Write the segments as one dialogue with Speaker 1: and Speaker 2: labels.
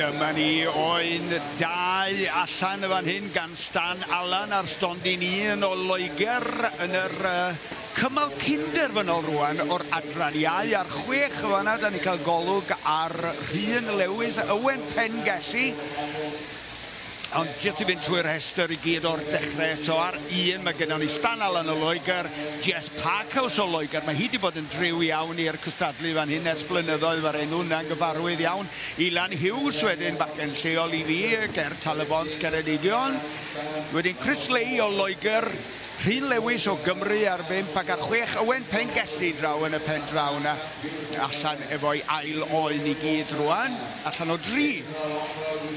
Speaker 1: Dyma ni oen dau allan y fan hyn gan Stan Allan a'r stondin un o Loegr yn yr cymal cyn-derfynol rwan o'r adran iau ar chwech y fanna da ni cael golwg ar Rhun Lewis, Ywen Pengelli ond jyst i fynd trwy'r rhestr i gyd o'r dechrau eto ar un mae gennym ni Stan Allan o Loegr, Jess Parkhouse o Loegr, mae hi wedi bod yn driw iawn i'r cystadlu fan hyn ers blynyddoedd mae'r enw yna'n gyfarwydd iawn Ilan Hughes wedyn, bachgen lleol i fi ger Tal-y-bont, Ceredigion. Wedyn Chris Leigh o Loegr, Rhun Lewis o Gymru ar bump ac ar chwech Owen Pengelli draw yn y pen draw 'na. Allan efo'i ail oen i gyd rwan, allan o dri.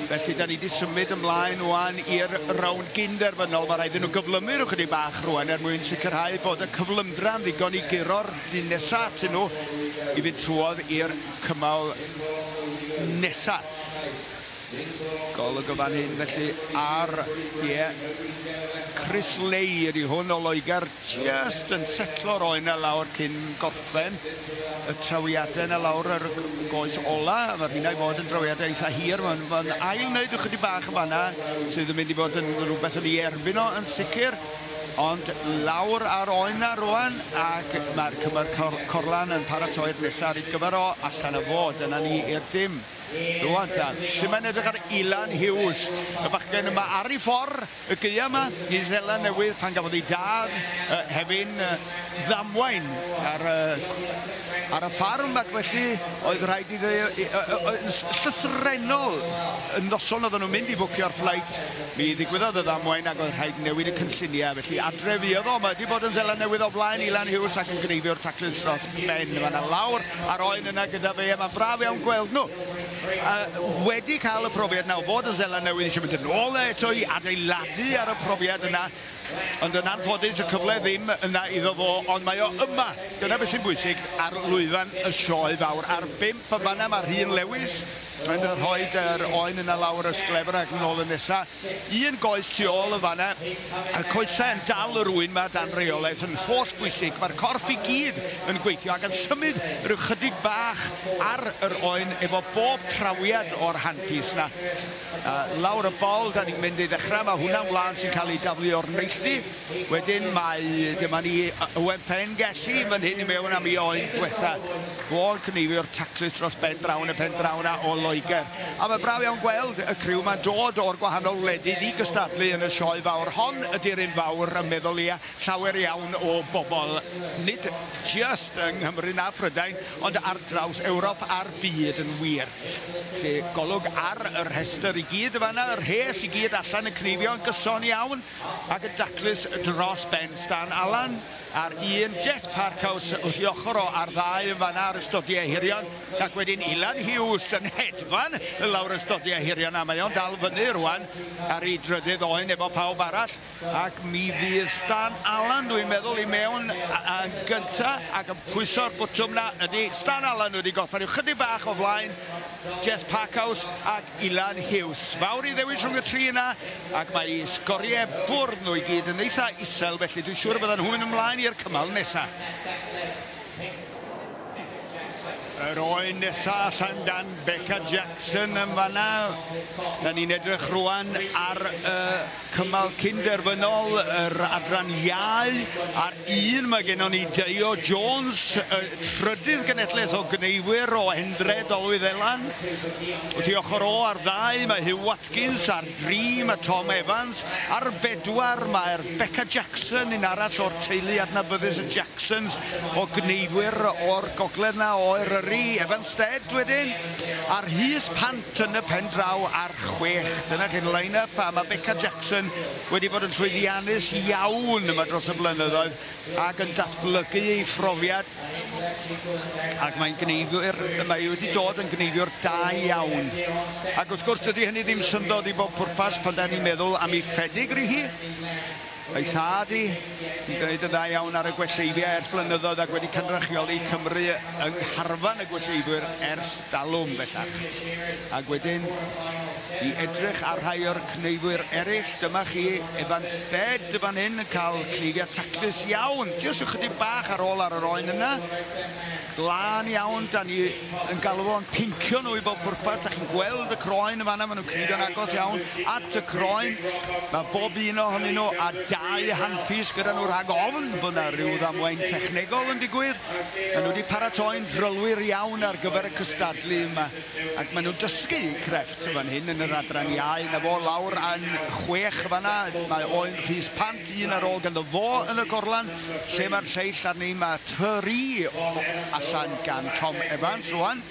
Speaker 1: Felly 'da ni 'di symud ymlaen rwan i'r rownd gyn-derfynol. Mae rhaid iddyn nhw gyflymu rhyw chydig bach rwan er mwyn sicrhau bod y cyflymdra'n ddigon i guro'r dyn nesa atyn nhw i fynd trwodd i'r cymal nesa. Golwg o fan hyn felly ar, ie, Chris Lay ydy hwn o Loegr, just yn setlo'r oen a lawr cyn gorffen y trawiadau yna lawr yr goes ola. Mae rhywna i fod yn drawiadau eitha hir, mae'n ail wneud ychydig bach yn fanna sydd yn mynd i fod yn rhywbeth yn ei erbyn o yn sicr. Ond lawr ar oen 'na rwan ac mae'r cymer corlan yn paratoi'r nesaf ar ei gyfer o allan y fod. Dyna ni i'r dim. Rwan tan. Sut mae'n edrych ar Ilan Hughes, y bachgen yma ar ei ffordd y geia yma i Zela Newydd pan gafodd ei dad uh, hefyn uh, ddamwain ar, uh, ar y ffarm ac felly oedd rhaid iddo uh, uh, uh, llythrenol y noson oedden nhw'n mynd i fwcio'r fflait Mi ddigwyddodd y ddamwain ac oedd rhaid newid y cynlluniau, felly adre fuodd o. Mae 'di bod yn Seland Newydd o flaen Ilan Hughes ac yn gneifio'r taclus dros ben. Mae 'na lawr ar oen yna gyda fe a mae'n braf iawn gweld nhw a wedi cael y profiad 'na o fod yn Seland Newydd eisiau mynd yn ôl 'na eto i adeiladu ar y profiad yna ond yn anffodus y cyfle ddim yna iddo fo ond mae o yma. Dyna beth sy'n bwysig ar lwyfan y Sioe Fawr. Ar bump yn fan'na mae Rhun Lewis, Mae'n dda rhoid yr oen yna lawr y sglefr ac yn ôl y nesa. Un goes tu ôl yn fanna. A'r coesau yn dal yr ŵyn ma dan reolaeth yn holl bwysig. Mae'r corff i gyd yn gweithio ac yn symud rhyw chydig bach ar yr oen efo bob trawiad o'r handpiece na. Lawr y bol dan ni'n mynd i ddechrau. Mae hwnna'n wlân sy'n cael ei daflu o'r neilltu. Wedyn mae, dyma ni, Owen Pen Gelli fan hyn i mewn am i oen diwetha. Fo'n cneifio'r taclus dros ben draw yn y pen draw yna o Loegr. A mae braf iawn gweld y criw ma'n dod o'r gwahanol wledydd i gystadlu yn y sioe fawr. Hon ydi'r un fawr y meddwl ia llawer iawn o bobl, nid jyst yng Nghymru na Phrydain, ond ar draws Ewrop a'r byd yn wir. Felly, golwg ar y rhestr i gyd yn fan'na, y rhes i gyd allan yn cneifio yn gyson iawn. Ac yn daclus dros ben Stan Allan ar un jet parkhouse wrth i ochr o ar ddau yn fan'na ar ystodi ehirion ac wedyn Ilan Hughes yn hedfan lawr ystodi ehirion a mae o'n dal fyny rwan ar ei drydydd oen efo pawb arall ac mi fydd Stan Allan dwi'n meddwl i mewn yn gynta ac yn pwyso'r bwtwm na ydy Stan Allan wedi gorffen yw chydig bach o flaen Jess Parkhouse ac Ilan Hughes fawr i ddewis rhwng y tri yna ac mae eu sgoriau bwrdd nhw i gyd yn eitha isel felly dwi'n siŵr y byddan nhw'n mynd ymlaen i'r cymal nesaf. Yr oen nesaf allan gan Becca Jackson yn fanna. Da ni'n edrych rwan ar y cymal cyn derfynol, yr adran iau, ar un mae gennon ni Deio Jones, y trydydd genedlaeth o gneifwyr o Hendre, Dolwyddelan. Wrth i ochr o ar ddau mae Huw Watson. Watkins a'r Dream a Tom Evans. Ar y bedwar, mae'r Becca Jackson, un arall o'r teulu adnabyddus y Jacksons o gneifwyr o'r gogledd 'na o Eryri, Evanstead wedyn, a Rhys Pant yn y pen draw ar chwech. Dyna chi'r line up a mae Becca Jackson wedi bod yn llwyddiannus iawn yma dros y blynyddoedd ac yn datblygu ei phrofiad. ac mae'n gneiddiwr, mae wedi dod yn gneiddiwr da iawn. Ac wrth gwrs, dydy hynny ddim syndod i bob pwrpas pan da ni'n meddwl am ei phedigree hi. Ei thad hi, yn gwneud yn dda iawn ar y gweseifiau ers blynyddoedd ac wedi cynrychioli Cymru yng ngharfan y gweseifiwr ers dalwm bellach. Ac wedyn, i edrych ar rhai o'r Cneifwyr eraill, dyma chi Evan Stead fan hyn yn cael cneifiad taclus iawn, jyst ychydig bach ar ôl ar yr oen yna. Glân iawn, da ni yn galw fo'n pincio nhw i bob pwrpas, da chi'n gweld y croen yn fanna, maen nhw'n cneifio'n agos iawn at y croen. Mae bob un ohonyn nhw a dau handpiece gyda nhw rhag ofn bod yna rhyw ddamwain technegol yn digwydd. Maen nhw wedi paratoi'n drylwyr iawn ar gyfer y cystadlu yma ac maen nhw'n dysgu crefft. Eto fan hyn yn yr adran iau, 'na fo lawr yn chwech fanna, mae Oen Rhys Pant un ar ôl ganddo fo yn y gorlan. Lle mae'r lleill arni, mae Tyrri allan gan Tom Evans rwan,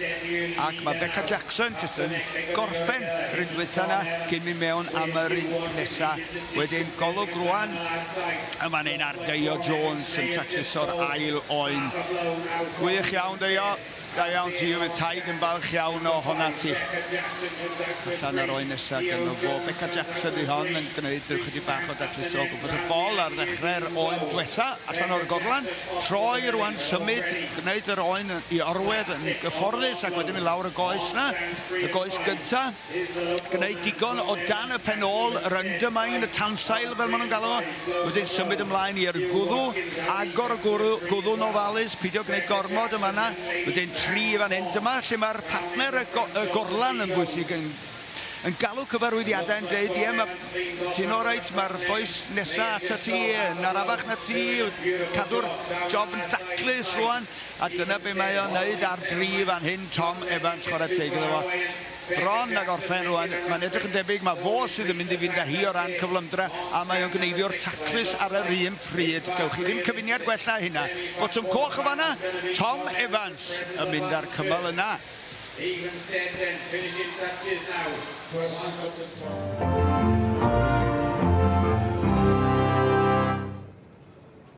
Speaker 1: ac mae Beca Jackson jyst yn gorffen yr un dwytha 'na cyn mynd mewn am yr un nesa. Wedyn Golwg rwan yn fan hyn ar Deio Jones yn tacluso'r ail Oen. Gwych iawn Deio. Da iawn ti Yfed Taid yn falch iawn o hona ti. Allan ar oen nesa gynno fo. Beca Jackson di hon yn gwneud ychydig bach o dacluso o gwmpas y bol ar ddechrau'r oen dwetha allan o'r gorlan. Troi rwan symud, gwneud yr oen i orwedd yn gyfforddus ac wedyn mynd lawr y goes na, y goes gynta. gwneud digon o dan y pen ôl, yr undermine, y tansail fel maen nhw'n galw fo, wedyn symud ymlaen i'r gwddw, agor y gwddw, gwddw'n ofalus, pidio gwneud gormod yma yna, wedyn tri fan hyn, dyma lle mae'r partner, y, go, y gorlan yn bwysig yn yn galw cyfarwyddiadau yn dweud, ie, mae ti'n orait, mae'r boes nesa ata ti, yn arafach na ti, cadw'r job yn daclus rwan, a dyna be mae o'n neud ar dri fan hyn, Tom Evans, chwarae teg iddo fo. Bron ag orffen rwan, mae'n edrych yn debyg mae fo sydd yn mynd i fynd â hi o ran cyflymdra a mae o'n gneifio'r taclus ar yr un pryd. Gewch chi ddim cyfuniad gwell na hynna. Botwm coch yn fanna, Tom Evans yn mynd â'r cymal yna. Egan Steffen, finishing touches nawr. Croeso Doctor Tom.